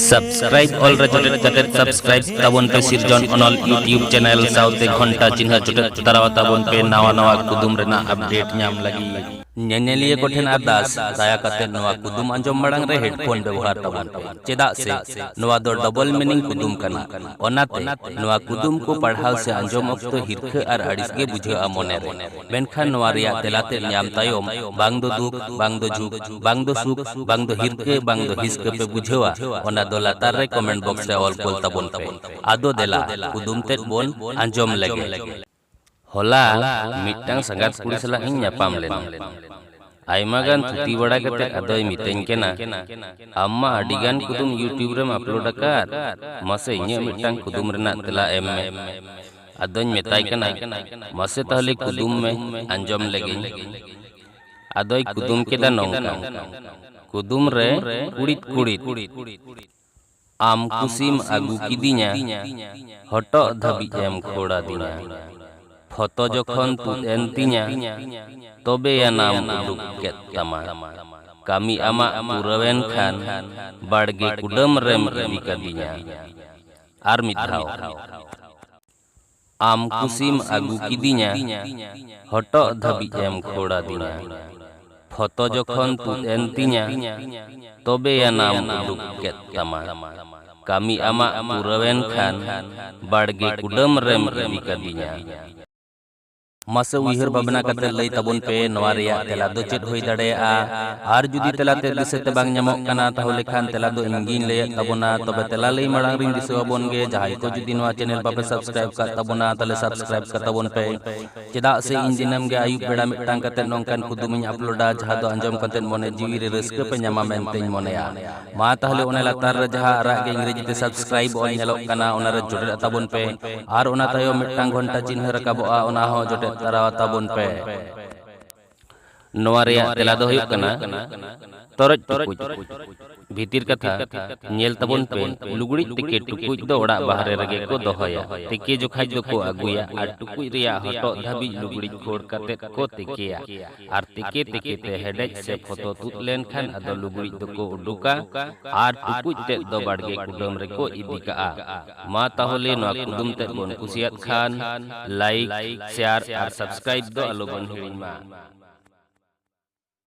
Subscribe ᱚᱞ ᱨᱮ ᱡᱚᱴᱮᱫ ᱠᱟᱛᱮ ᱥᱟᱵᱥᱠᱨᱟᱭᱤᱵ ᱛᱟᱵᱚᱱ ᱯᱮ ᱥᱤᱨᱡᱚᱱ ᱚᱱᱚᱞ ᱭᱩᱴᱤᱭᱩᱵ ᱪᱮᱱᱮᱞ ᱥᱟᱶᱛᱮ ᱜᱷᱚᱱᱴᱟ ᱪᱤᱱᱦᱟᱹ ᱡᱚᱴᱮᱫ ᱛᱟᱨᱟᱣᱟ ᱛᱟᱵᱚᱱ ᱯᱮ ᱱᱟᱣᱟ ᱱᱟᱣᱟ ᱠᱩᱫᱩᱢ ᱨᱮᱱᱟᱜ ᱟᱯᱰᱮᱴ ᱧᱟᱢ ᱞᱟᱹᱜᱤᱫ ᱧᱮᱧᱮᱞᱤᱭᱟᱹ ᱠᱚᱴᱷᱮᱱ ᱟᱨᱫᱟᱥ ᱫᱟᱭᱟ ᱠᱟᱛᱮ ᱱᱚᱣᱟ ᱠᱩᱫᱩᱢ ᱟᱸᱡᱚᱢ ᱢᱟᱲᱟᱝ ᱨᱮ ᱦᱮᱰᱯᱷᱳᱱ ᱵᱮᱵᱚᱦᱟᱨ ᱛᱟᱵᱚᱱ ᱯᱮ ᱪᱮᱫᱟᱜ ᱥᱮ ᱱᱚᱣᱟ ᱫᱚ ᱰᱚᱵᱚᱞ ᱢᱤᱱᱤᱝ ᱠᱩᱫᱩᱢ ᱠᱟᱱᱟ ᱚᱱᱟᱛᱮ ᱱᱚᱣᱟ ᱠᱩᱫᱩᱢ ᱠᱚ ᱯᱟᱲᱦᱟᱣ ᱥᱮ ᱟᱸᱡᱚᱢ ᱚᱠᱛᱚ ᱦᱤᱨᱠᱷᱟᱹ ᱟᱨ ᱟᱹᱲᱤᱥ ᱜᱮ ᱵᱩᱡᱷᱟᱹᱜᱼᱟ ᱢᱚᱱᱮ ᱨᱮ ᱢᱮᱱᱠᱷᱟᱱ ᱱᱚᱣᱟ ᱨᱮᱭᱟᱜ ᱛᱮᱞᱟ ᱛᱮᱫ ᱧᱟᱢ ᱛᱟᱭᱚᱢ ᱵᱟᱝ ᱫᱚ ᱫᱩᱠ, ᱵᱟᱝ ᱫᱚ ᱡᱷᱩᱠ, ᱵᱟᱝ ᱫᱚ ᱥᱩᱠ, ᱵᱟᱝ ᱫᱚ ᱦᱤᱨᱠᱟᱹ, ᱵᱟᱝ ᱫᱚ ᱦᱤᱥᱠᱟᱹ ᱯᱮ ᱵᱩᱡᱷᱟᱹᱣᱟ ᱚᱱᱟ ᱫᱚ ᱞᱟᱛᱟᱨ ᱨᱮ ᱠᱚᱢᱮᱱᱴ ᱵᱚᱠᱥ ᱨᱮ ᱚᱞ ᱠᱳᱞ ᱛᱟᱵᱚᱱ ᱯᱮ᱾ ᱟᱫᱚ ᱫᱮᱞᱟ ᱠᱩᱫᱩᱢ ᱛᱮᱫ ᱵᱚᱱ ᱟᱸᱡᱚᱢ ᱞᱮᱜᱮ᱾ ᱦᱚᱞᱟ ᱢᱤᱫᱴᱟᱝ ᱥᱟᱸᱜᱟᱛ ᱠᱩᱲᱤ ᱥᱟᱞᱟᱜ ᱤᱧ ᱧᱟᱯᱟᱢ ᱞᱮᱱᱟ᱾ ᱟᱭᱢᱟ ᱜᱟᱱ ᱛᱷᱩᱛᱤ ᱵᱟᱲᱟ ᱠᱟᱛᱮ ᱟᱫᱚᱭ ᱢᱤᱛᱟᱹᱧ ᱠᱟᱱᱟ, ᱟᱢ ᱢᱟ ᱟᱹᱰᱤ ᱜᱟᱱ ᱠᱩᱫᱩᱢ ᱭᱩᱴᱭᱩᱵᱽ ᱨᱮᱢ ᱟᱯᱞᱳᱰ ᱟᱠᱟᱫ, ᱢᱟᱥᱮ ᱤᱧᱟᱹᱜ ᱢᱤᱫᱴᱟᱝ ᱠᱩᱫᱩᱢ ᱨᱮᱱᱟᱜ ᱛᱮᱞᱟ ᱮᱢ ᱢᱮ᱾ ᱟᱫᱚᱧ ᱢᱮᱛᱟᱭ ᱠᱟᱱᱟ ᱢᱟᱥᱮ ᱛᱟᱦᱚᱞᱮ ᱠᱩᱫᱩᱢ ᱢᱮ ᱟᱸᱡᱚᱢ ᱞᱮᱜᱤᱧ ᱟᱫᱚᱭ ᱠᱩᱫᱩᱢ ᱠᱮᱫᱟ ᱱᱚᱝᱠᱟ ᱠᱩᱫᱩᱢ ᱨᱮ ᱠᱩᱲᱤᱫ ᱠᱩᱲᱤᱫ ᱟᱢ ᱠᱩᱥᱤᱢ ᱟᱹᱜᱩ ᱠᱤᱫᱤᱧᱟ ᱦᱚᱴᱚᱜ ᱫᱷᱟᱹᱵᱤᱡ ᱮᱢ ᱠᱷᱳᱲᱟᱫᱤᱧᱟ ᱯᱷᱚᱛᱚ ᱡᱚᱠᱷᱚᱱ ᱛᱩᱫ ᱮᱱ ᱛᱤᱧᱟ ᱛᱚᱵᱮ ᱟᱱᱟᱢ ᱩᱰᱩᱠ ᱠᱮᱫ ᱛᱟᱢᱟ ᱠᱟᱹᱢᱤ ᱟᱢᱟᱜ ᱯᱩᱨᱟᱹᱣᱮᱱ ᱠᱷᱟᱱ ᱵᱟᱲᱜᱮ ᱠᱩᱰᱟᱹᱢ ᱨᱮᱢ ᱤᱫᱤ ᱠᱟᱫᱤᱧᱟ ᱟᱨ ᱢᱤᱫ ᱫᱷᱟᱣ ᱟᱢ ᱠᱩᱥᱤᱢ ᱟᱹᱜᱩ ᱠᱤᱫᱤᱧᱟ ᱦᱚᱴᱚᱜ ᱫᱷᱟᱹᱵᱤᱡ ᱮᱢ ᱠᱷᱳᱲ ᱟᱹᱫᱤᱧᱟ ᱯᱷᱚᱛᱚ ᱡᱚᱠᱷᱚᱱ ᱛᱩᱫ ᱮᱱ ᱛᱤᱧᱟ ᱛᱚᱵᱮ ᱟᱱᱟᱢ ᱩᱰᱩᱠ ᱠᱮᱫ ᱛᱟᱢᱟ ᱠᱟᱹᱢᱤ ᱟᱢᱟᱜ ᱯᱩᱨᱟᱹᱣᱮᱱ ᱠᱷᱟᱱ ᱵᱟᱲᱜᱮ ᱠᱩᱰᱟᱹᱢ ᱨᱮᱢ ᱤᱫᱤ ᱠᱟᱹᱫᱤᱧᱟ ᱢᱟᱥᱮ ᱩᱭᱦᱟᱹᱨ ᱵᱷᱟᱵᱽᱱᱟ ᱠᱟᱛᱮ ᱞᱟᱹᱭ ᱛᱟᱵᱚᱱ ᱯᱮ ᱱᱚᱣᱟ ᱨᱮᱭᱟᱜ ᱛᱮᱞᱟ ᱫᱚ ᱪᱮᱫ ᱦᱩᱭ ᱫᱟᱲᱮᱭᱟᱜᱼᱟ ᱟᱨ ᱡᱩᱫᱤ ᱛᱮᱞᱟ ᱛᱮ ᱫᱤᱥᱟᱹ ᱛᱮ ᱵᱟᱝ ᱧᱟᱢᱚᱜ ᱠᱟᱱᱟ ᱛᱟᱦᱚᱞᱮ ᱠᱷᱟᱱ ᱛᱮᱞᱟ ᱫᱚ ᱤᱧ ᱜᱤᱧ ᱞᱟᱹᱭᱮᱫ ᱛᱟᱵᱚᱱᱟ ᱛᱚᱵᱮ ᱛᱮᱞᱟ ᱞᱟᱹᱭ ᱢᱟᱲᱟᱝ ᱨᱤᱧ ᱫᱤᱥᱟᱹ ᱟᱵᱚᱱ ᱜᱮ ᱡᱟᱦᱟᱸᱭ ᱠᱚ ᱡᱩᱫᱤ ᱱᱚᱣᱟ ᱪᱮᱱᱮᱞ ᱵᱟᱯᱮ ᱥᱟᱵᱥᱠᱨᱟᱭᱤᱵ ᱠᱟᱜ ᱛᱟᱵᱚᱱᱟ ᱛᱟᱦᱚᱞᱮ ᱥᱟᱵᱥᱠᱨᱟᱭᱤᱵ ᱠᱟᱜ ᱛᱟᱵᱚᱱ ᱯᱮ ᱪᱮᱫᱟᱜ ᱥᱮ ᱤᱧ ᱫᱤᱱᱟᱹᱢ ᱜᱮ ᱟᱹᱭᱩᱵ ᱵᱮᱲᱟ ᱢᱤᱫᱴᱟᱝ ᱠᱟᱛᱮ ᱱᱚᱝᱠᱟᱱ ᱠᱩᱫᱩᱢᱤᱧ ᱟᱯᱞᱳᱰᱟ ᱡᱟᱦᱟᱸ ᱫᱚ ᱟᱸᱡᱚᱢ ᱠᱟᱛᱮ ᱢᱚᱱᱮ ᱡᱤᱣᱤ ᱨᱮ ᱨᱟᱹᱥᱠᱟᱹ ᱯᱮ ᱧᱟᱢᱟ ᱢᱮᱱᱛᱮᱧ ᱢᱚᱱᱮᱭᱟ ᱢᱟ ᱛᱟᱦᱚᱞᱮ ᱚᱱᱟ ᱞᱟᱛᱟᱨ ᱨᱮ ᱡᱟᱦᱟᱸ ᱟᱨᱟᱜ ᱜᱮ ᱤᱝᱨᱮᱡᱤ ᱛᱮ ᱥᱟᱵᱥᱠᱨᱟᱭᱤᱵ ᱚᱞ ᱧᱮᱞᱚᱜ ᱠᱟᱱᱟ ᱚᱱᱟ ᱨᱮ ᱡᱚᱴᱮᱫ ᱛᱟᱵᱚᱱ ᱯᱮ ᱟᱨ ᱚᱱᱟ ᱛᱟᱭᱚᱢ ᱢᱤᱫᱴᱟᱝ ᱜᱷᱚᱱᱴᱟ ᱪᱤᱱᱦᱟᱹ ᱨᱟᱠᱟᱵᱚᱜᱼᱟ ᱚᱱᱟ ᱦᱚᱸ ᱡᱚᱴᱮᱫ ᱛᱟᱨᱟ ᱛᱟᱵᱚᱱ ᱯᱮ ᱱᱚᱣᱟ ᱨᱮᱭᱟᱜ ᱛᱮᱞᱟ ᱫᱚ ᱦᱩᱭᱩᱜ ᱠᱟᱱᱟ ᱛᱚᱨᱚᱡ ᱴᱩᱠᱩᱡ ᱵᱷᱤᱛᱤᱨ ᱠᱟᱛᱷᱟ ᱧᱮᱞ ᱛᱟᱵᱚᱱ ᱯᱮ ᱞᱩᱜᱽᱲᱤᱡ ᱛᱮᱠᱮ ᱴᱩᱠᱩᱡ ᱫᱚ ᱚᱲᱟᱜ ᱵᱟᱦᱨᱮ ᱨᱮᱜᱮ ᱠᱚ ᱫᱚᱦᱚᱭᱟ ᱛᱮᱠᱮ ᱡᱚᱠᱷᱟᱡ ᱫᱚᱠᱚ ᱟᱹᱜᱩᱭᱟ ᱟᱨ ᱴᱩᱠᱩᱡ ᱨᱮᱭᱟᱜ ᱦᱚᱴᱚᱜ ᱫᱷᱟᱹᱵᱤᱡ ᱞᱩᱜᱽᱲᱤᱡ ᱠᱷᱳᱲ ᱠᱟᱛᱮ ᱠᱚ ᱛᱮᱠᱮᱭᱟ ᱟᱨ ᱛᱤᱠᱮ ᱛᱤᱠᱮ ᱛᱮ ᱦᱮᱰᱮᱡ ᱥᱮ ᱯᱷᱚᱛᱚ ᱛᱩᱫ ᱞᱮᱱᱠᱷᱟᱱ ᱟᱫᱚ ᱞᱩᱜᱽᱲᱤᱡ ᱫᱚᱠᱚ ᱩᱰᱩᱠᱟ ᱟᱨ ᱴᱩᱠᱩᱡ ᱛᱮᱫ ᱫᱚ ᱵᱟᱲᱜᱮ ᱠᱩᱰᱟᱹᱢ ᱨᱮᱠᱚ ᱤᱫᱤ ᱠᱟᱜᱼᱟ᱾ ᱢᱟ ᱛᱟᱦᱚᱞᱮ ᱱᱚᱣᱟ ᱠᱩᱫᱩᱢ ᱛᱮᱫ ᱵᱚᱱ ᱠᱩᱥᱤᱭᱟᱫ ᱠᱷᱟᱱ ᱞᱟᱭᱤᱠ, ᱥᱮᱭᱟᱨ ᱟᱨ ᱥᱟᱵᱥᱠᱨᱟᱭᱤᱵ ᱫᱚ ᱟᱞᱚ ᱵᱚᱱ ᱦᱤᱲᱤᱧ ᱢᱟ᱾